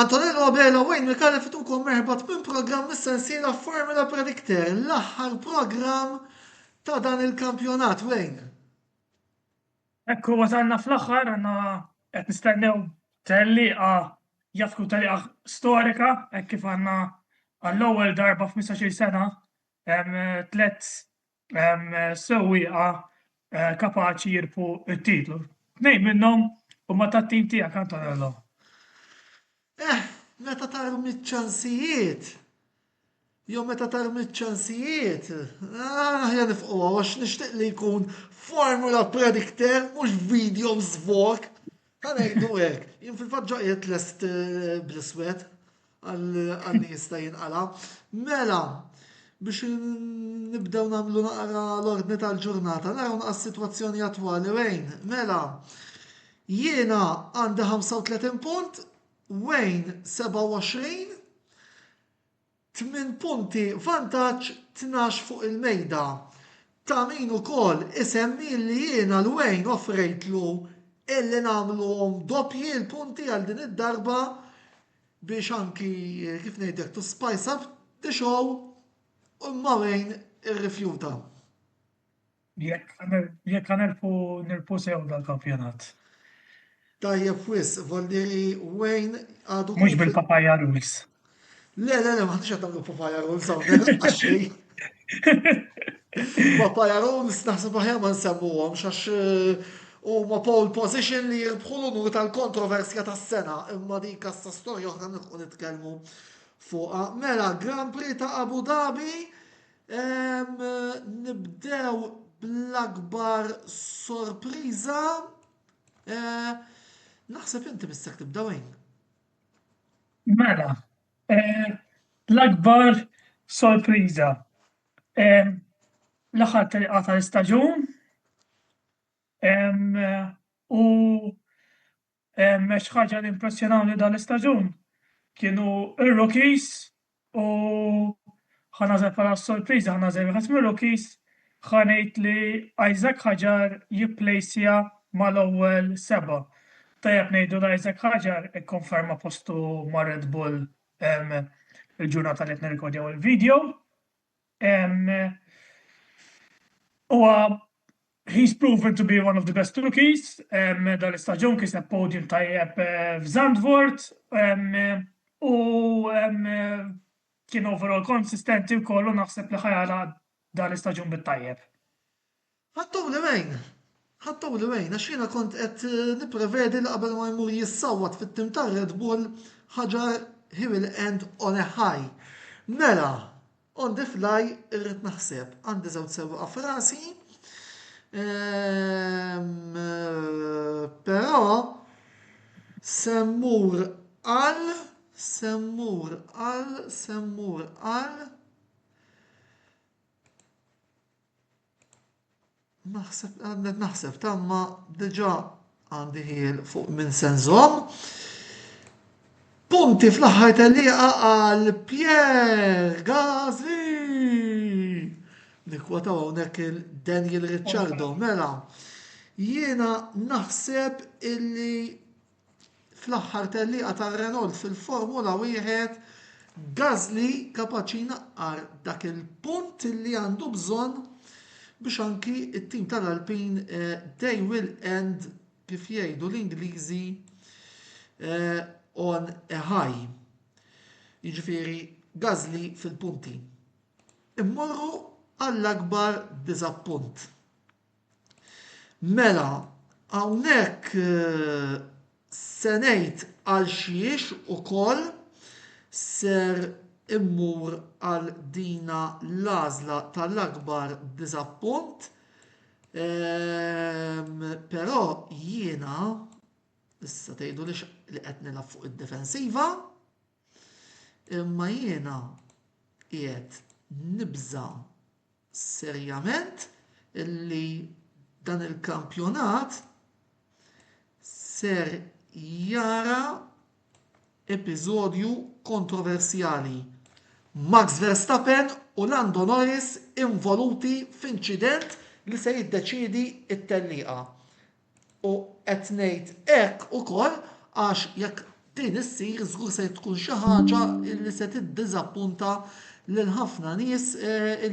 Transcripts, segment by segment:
Antonello Abela u Wayne Mikali fitukom merħbat minn programm mis-sensiela Formula Predictor, l-aħħar programm ta' dan il-kampjonat, Wayne. Ekku wasalna fl-aħħar, għanna qed nistennew telliqa jafku telliqa storika, hekk kif għandna għall-ewwel darba f'15 sena tlet sewwieqa eh, kapaċi jirpu t-titlu. Tnejn minnhom huma tat-tim tiegħek Antonello. Eh, meta tarum iċ-ċansijiet, jew meta tarum iċ-ċansijiet, ah, ħja nifqu għax nixtieq li jkun formula predictor mhux video zvok. Ħa ngħidu hekk, jien fil-fatt ġo qiegħed lest eh, bl-iswed għal jista' jinqala. Mela, biex nibdew nagħmlu naqra l-ordni tal-ġurnata, naraw naqra s-sitwazzjoni attwali wejn. Mela, jiena għandi 35 punt, Wayne 27, Tmien punti vantaġġ tnax fuq il-mejda ta' min ukoll isemmi li jiena l Wayne offrejtlu illi nagħmluhom doppji l-punti għal din id-darba biex anki kif ngħidlek to spice up the show imma Wayne irrifjuta. Jekk ħanelbu nilbu sew dal-kampjonat. Tajjeb wisq, Valdieri Wayne għadu. Mhux bil-papaya rules. Le, le, le, ma ħadix qed nagħmlu papaya rules hawnhekk għaxej. Papaya rules naħseb aħjar ma nsemmuhom x'għax eh, huma pole position li jirbħu l-unur tal-kontroversja tas-sena imma dik kassa storja oħra nilħu nitkellmu fuqha. Mela, Grand Prix ta' Abu Dhabi Ehm, nibdew bl-akbar sorpriża. Eh, naħseb inti mistek tibdew hekk. Mela, eh, l-akbar sorpriża. Ehm, l-aħħar telqa tal-istaġun. Ehm, u Xi ħaġa li impressjonawni dan l-istaġun kienu r-rookies u ħa nażel bħala sorpriża ħa nażel wieħed mir-rookies ħa ngħid li Isaac Ħaġar jipplejsja mal-ewwel seba'. Tajjeb ngħidu li Isaac Ħaġar ikkonferma postu ma' Red Bull il-ġurnata li qed nirrikordjaw il-video. Huwa he's proven to be one of the best rookies, dan l-istaġun kiseb podium tajjeb f'Zandvoort u kien overall konsistenti wkoll u naħseb li ħa jagħlaq dan l-istaġun bit-tajjeb. Ħadtuli wejn? Ħadtuli wejn għax jiena kont qed nipprevedi li qabel ma jmur jissawwat fit-tim tar-Red Bull, Hajar he will end on a high. Mela, on the fly irrid naħseb. Għandi żewġ sewwieqa f'rasi, però se mmur għal, se mmur għal, se mmur għal, Naħseb, għadnet naħseb, tamma diġa għandi ħiel fuq minn senżom. Punti fl-aħħar tal-liqa għal Pierre Gazi. Nikwata hawnhekk il-Daniel Ricciardo, mela. Jiena naħseb illi fl-aħħar tellieqa tar-Renault fil-Formula Wieħed, Gasly kapaċi jnaqqar dak il-punt li għandu bżonn biex anki t-tim tal-Alpin eh, they will end kif jgħidu l-Ingliżi eh, on a high. Jiġifieri Gasly fil-punti. Immorru għall-akbar diżappunt. Mela, hawnhekk se ngħid għalxiex ukoll ser immur għal dina l-għażla tal-akbar diżappunt, però jiena, issa tgħidulix li qed nilgħab fuq id-difensiva. Imma jiena qiegħed nibża' serjament li dan il-kampjonat ser jara episodju kontroversjali. Max Verstappen u Lando Norris involuti f'inċident li se jiddeċiedi t-tellieqa. U qed ngħid hekk ukoll għax jekk din issir żgur se tkun xi ħaġa li se tiddiżappunta lil ħafna nies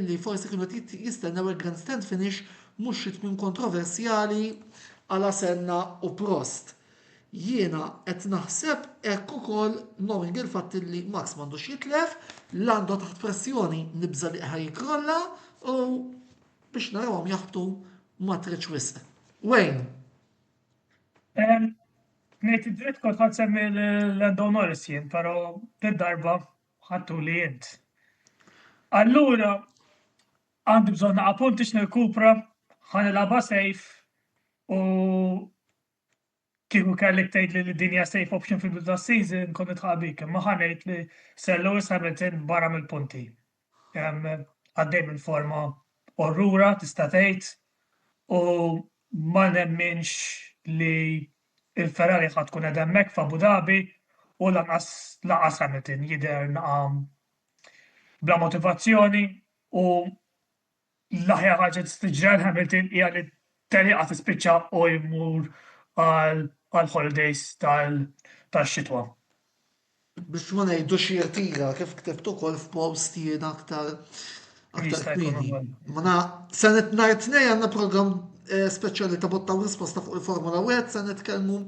li forsi kienu qed jistennew il-grandstand finish mhux xi tmiem kontroversjali għal Asenna u Prost. Jiena qed naħseb hekk ukoll knowing il-fatt li Max m'għandux jitlef, Lando taħt pressjoni nibża' li ħa jikkrolla u Biex narawhom jaħbtu ma tridx wisq. Wayne. Ngħid id-dritt kont ħadd semmi l-Lando Norris jien, però darba ħattu li jint. Allura, għandi bżonn naqa' punti x'nirkupra, ħanilgħabha sejf u Kieku kellek tgħidli li din hija safe option fil-bidu tas-season kont nidħaq bik, imma ħa ngħid li Sir Lewis Hamilton barra mill-punti. Għaddej minn forma orrura tista' tgħid u ma nemminx li l-Ferrari ħadd tkun qed hemmhekk f'Abu Dhabi u lanqas laqas Hamilton jidher naqa' bla motivazzjoni u l-aħjar ħaġa li tista' tiġri għal Hamilton hija li t-tellieqa tispiċċa u jmur għall-holidays tax-xitwa. Biex ma ngħidux jirtira kif ktibt ukoll f'post jiena aktar aktar kmieni. Mela, se nhar tnej għandna programm eh, speċjali ta' botta u risposta fuq il-Formula 1 se nitkellmu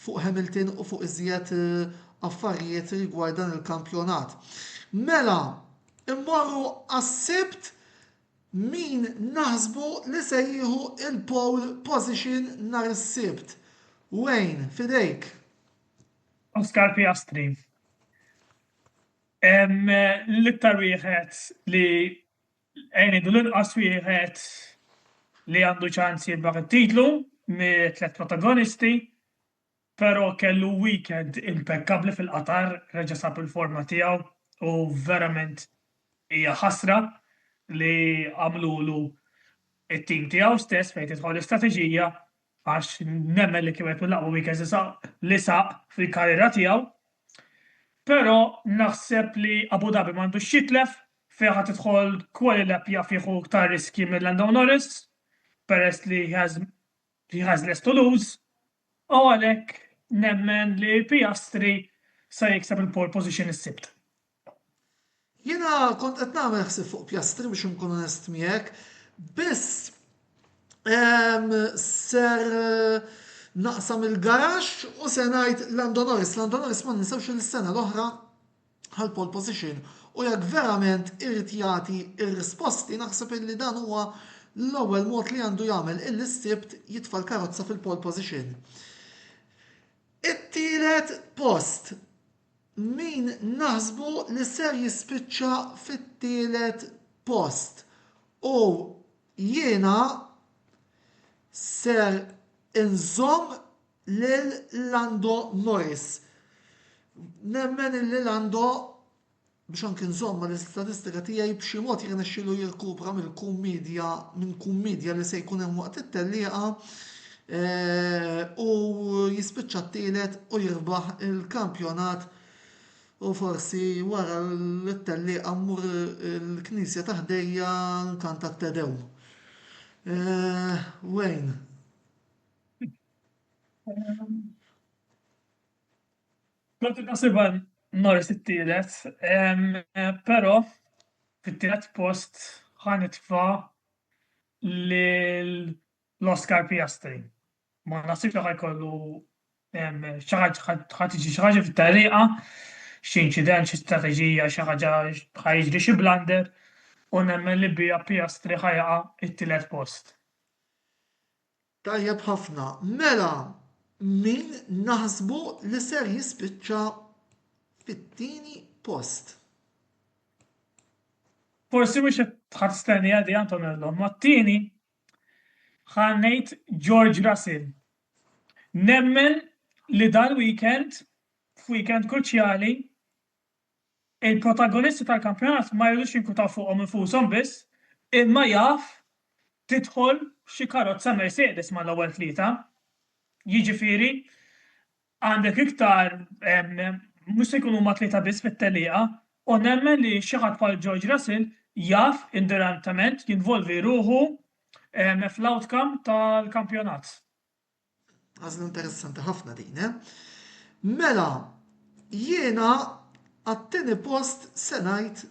fuq Hamilton u fuq iżjed eh, affarijiet rigward dan il-kampjonat. Mela, Immorru għas-Sibt min naħsbu li se jieħu il-pole position nhar is-Sibt. Wayne, f'idejk. Oscar Piastri. L-iktar wieħed li għenidu l-inqas wieħed li għandu ċans jirbaħ it-titlu mit-tlet protagonisti Pero kellu weekend impekkabbli fil-Qatar, reġa' sab il-forma tiegħu u verament hija ħasra li għamlulu t-tim tiegħu stess fejn tidħol l-istrateġija għax nemmen li kien wieħed mill-aqwa weekends li saq fil-karriera tiegħu. Pero naħseb li Abu Dhabi m'għandux x'jitlef, fiha tidħol Qualilapp jaf jieħu iktar riskji minn Lando Norris peress li he has li ħażnet Toulouse u għalhekk nemmen li Piastri se jikseb il-pole position is-Sibt. Jiena kont qed nagħmel ħsieb fuq Piastri biex inkun onest miegħek, biss ehm, ser naqsam il-garax u se ngħid Lando Norris. Lando Norris ma ninsewx il-sena l-oħra għall-pole position u jekk verament irid jagħti r-risposti naħseb illi dan huwa l-ewwel mod li għandu jagħmel illi s-Sibt jitfa' l-karozza fil-pole position. It-tielet post min naħsbu li ser jispiċċa fit-tielet post u jiena ser inżomm lil Lando Norris. Nemmen illi Lando biex anki nżomm ma l-istatistika tiegħi b'xi mod jirnexxilu jirkupra mill-kummedja minn kummedja li se jkun hemm waqt it-tellieqa eh, u jispiċċa t-tielet u jirbaħ il-kampjonat u forsi wara l-tellieqa mmur il-knisja ta' ħdejja nkanta t-tedew. Eh, Wayne. Kont impossiba nors it-tielet, però fit-tielet post ħanitfa lil l-Oscar Piastri. Ma nasibx li ħajkollu ħad tiġi xi ħaġa fit-tagħliqa, xi inċident, xi strateġija, xi ħaġa ħa jiġri xi blunder u nemmen li biha Piastri ħa jaqa' t-tielet post. Tajjeb ħafna, mela min naħsbu li ser jispiċċa fit-tieni post? Forsi mhux qed ħadd stenniha di Antonello, ma t-tieni ħa ngħid George Russell. Nemmen li dal-weekend, f'weekend kruċjali, Il-protagonisti tal-kampjonat ma jridux jinkwitaw fuqhom infushom biss, imma jaf tidħol xi karozza Mercedes mal-ewwel tlieta. Jiġifieri għandek iktar mhux se jkunu huma tlieta biss fit-tellieqa u nemmen li xi ħadd bħal George Russell jaf indirettament jinvolvi ruħu fl-outcome tal-kampjonat. Għażla interessanti ħafna din, eh? Mela, jiena għat-tieni post se ngħid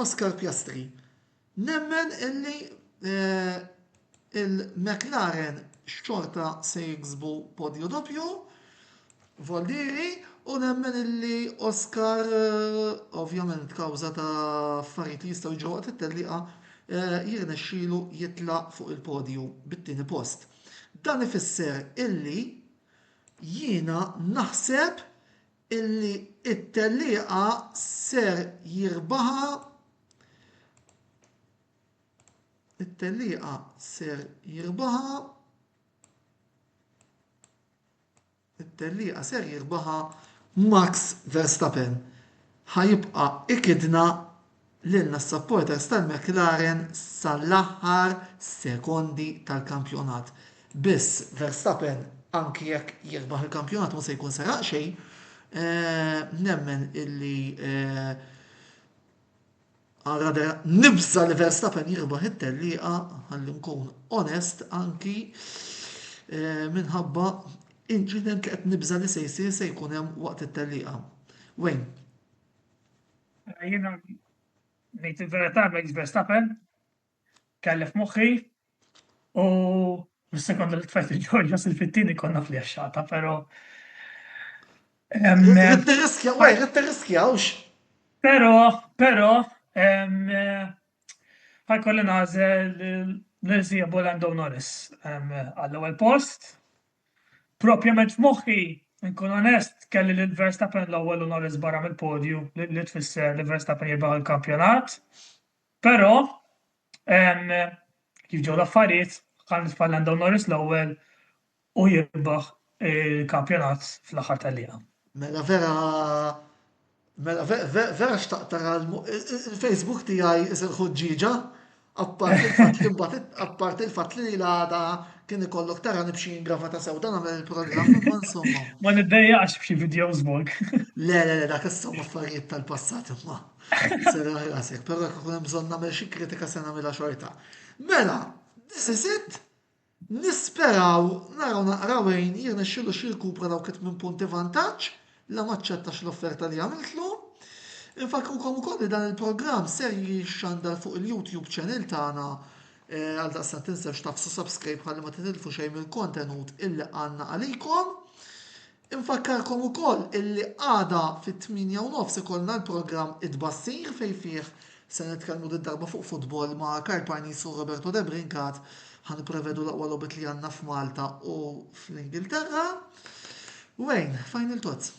Oscar Piastri. Nemmen illi eh, il-McLaren xorta se jiksbu podju doppju Voldieri u nemmen illi Oscar, ovvjament kawża ta' affarijiet li jistgħu jiġru waqt it-tellieqa, jirnexxielu jitla' fuq il-podju bit-tieni post. Dan ifisser illi jiena naħseb illi t-tellieqa ser jirbaħha it-tellieqa ser jirbaħha It-tellieqa ser jirbaħha Max Verstappen. Ħa jibqa' ikidna lilna s-supporters tal-McLaren sal-aħħar sekondi tal-kampjonat. Biss, Verstappen anki jekk jirbaħ il-kampjonat mhu se jkun seraq xejn. Nemmen illi Ara vera nibża' li Verstappen jirbaħ it-tellieqa ħalli nkun onest anki eh, minħabba inċident li qed nibża' li se jsir se jkun hemm waqt it-tellieqa. Wayne. Jiena ngħid il-verità Max Verstappen kellef moħħi U sekonda li tfajt il-ġorġa sil-fittini konna fl-jaxxata, pero. Rittirriskja, għaj, rittirriskja, ux. Pero, pero, għaj kolli nazel l-erzija Bolando Norris għall-ewel post. Propjament f'moħħi, nkun onest, kelli l-Verstappen l-ewel u Norris barra mill-podju li tfisser li Verstappen jirbaħ il-kampjonat. Pero, Kif ġew l-affarijiet, Karl Tfal għandhom Norris l-ewwel u jirbaħ il-kampjonat fl-aħħar tal-liqa. Mela vera Mela vera xtaqt tara il-Facebook tiegħi isir ħuġġieġa apparti l-fatt li l-għada kien ikollok tara nibxi ingrafa ta' sew dan għamel il-programm imma insomma. Ma niddejjaqx b'xi videos bok. Le, le, le, dak insomma affarijiet tal-passat imma. Sera ħrasek, pero jekk ikun hemm bżonn nagħmel xi kritika se nagħmilha xorta. Mela, this is it. Nisperaw naraw naqraw għin jirna xilu xil kupra daw kit minn punti vantaġġ la maċċettax l-offerta li għamiltlu. Infakrukom ukoll li dan il-programm ser jixxandar fuq il-YouTube channel tagħna eh, għal daqsan tinsewx tafsu subscribe ħalli ma titilfu xejn mill-kontenut illi għandna għalikom. Infakkarkom ukoll illi għada fit-tmienja u nofs ikollna l-programm It-Tbassir fejn fih se nitkellmu did-darba fuq futbol ma' Karl Parnis u Roberto Debrincat. Ħa nipprevedu l-aqwa logħbiet li għandna f'Malta u fl-Ingilterra. Wayne, final thoughts?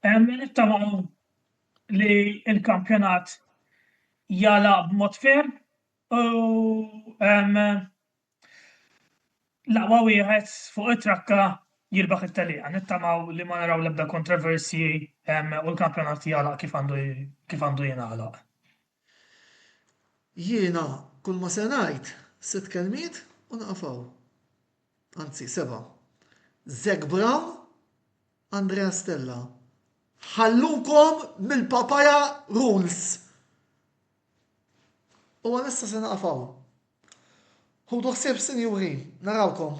Nittamaw li l-kampjonat jagħlaq b'mod ferm u L-aqwa wieħed fuq it-trakka jirbaħ it-tellieqa. Nittamaw li ma naraw l-ebda kontroversji u l-kampjonat jagħlaq kif għandu kif għandu jingħalaq. Jiena kull ma se ngħid sitt kelmiet u nieqaf hawn. Anzi, seba'. Zac Brown, Andrea Stella. Ħallukom mill-papaya rules! U għalissa se naqaf hawn. Ħudu ħsieb sinjuri, narawkom.